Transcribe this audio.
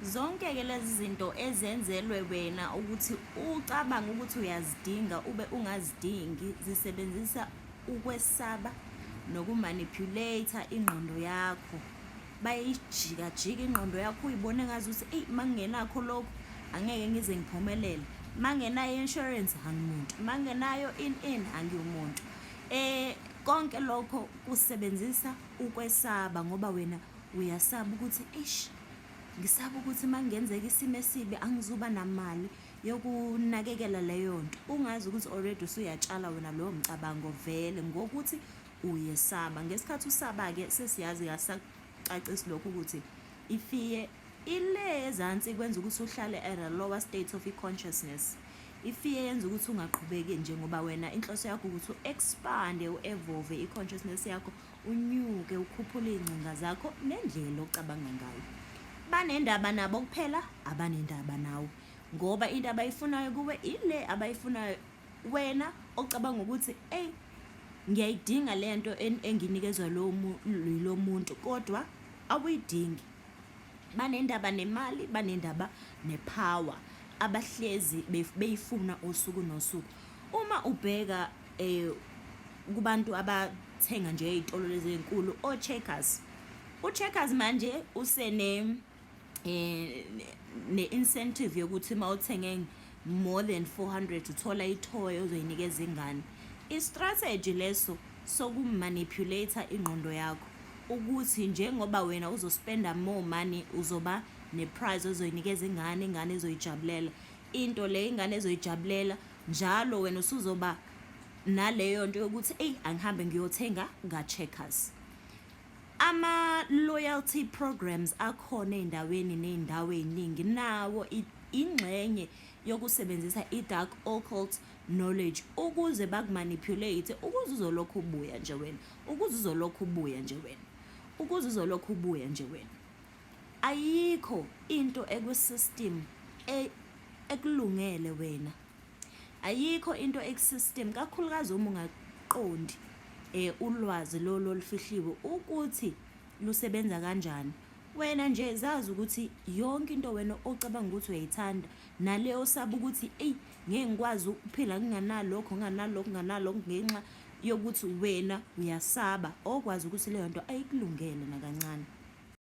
Zonke-ke lezi zinto ezenzelwe wena ukuthi ucabanga ukuthi uyazidinga ube ungazidingi zisebenzisa ukwesaba nokumanipulate ingqondo yakho bayijika jika ingqondo yakho uyibone ngazi ukuthi eyi mangingenakho lokhu angeke ngize ngiphumelele mangenayo insurance angimuntu mangenayo in in angiwumuntu eh konke lokho kusebenzisa ukwesaba ngoba wena uyasaba ukuthi eish ngisaba ukuthi uma kungenzeka isimo esibi angizuba namali yokunakekela leyo nto ungazi ukuthi already usuyatshala wena lowo mcabango vele ngokuthi uyesaba ngesikhathi usaba-ke sesiyazi kasacacisi lokho ukuthi ifiye ile ezansi kwenza ukuthi uhlale at a lower state of i-consciousness ifiye yenza ukuthi ungaqhubeki njengoba wena inhloso yakho ukuthi u-expande u-evove i-consciousness yakho unyuke ukhuphule iy'ngcinga zakho nendlela ocabanga ngayo banendaba nabo kuphela abanendaba nawe ngoba into abayifunayo kuwe ile abayifunayo wena ocabanga ukuthi eyi ngiyayidinga le nto enginikezwa lo muntu kodwa awuyidingi banendaba nemali banendaba nepower abahlezi beyifuna usuku nosuku uma ubheka eh kubantu abathenga nje ezitolo lezi ezinkulu o checkers u checkers manje usene eh ne incentive yokuthi mawuthenge more than 400 uthola ithoy ozoyinikeza ingane i strategy leso sokumanipulator ingqondo yakho ukuthi njengoba wena uzospenda more money uzoba neprize ozoyinikeza ingane ingane ezoyijabulela into le ingane ezoyijabulela njalo wena usuzoba naleyo nto yokuthi eyi angihambe ngiyothenga ka-checkers ama-loyalty programs akhona ey'ndaweni ney'ndawo ey'ningi nawo ingxenye yokusebenzisa i-dark occult knowledge ukuze bakumanipulate ukuze uzolokhu ubuya nje wena ukuze uzolokhu ubuya nje wena ukuze uzolokhu ubuya nje wena ayikho into ekwisystem e, ekulungele wena ayikho into ekusystem kakhulukazi uma ungaqondi eh ulwazi lolu olufihliwe ukuthi lusebenza kanjani wena nje zazi ukuthi yonke into wena ocabanga ukuthi uyayithanda naleyo osaba ukuthi eyi ngeke ngikwazi ukuphila nginganalokho nginganalokho nginganalokho ngenxa yokuthi wena uyasaba okwazi ukuthi leyo nto ayikulungele nakancane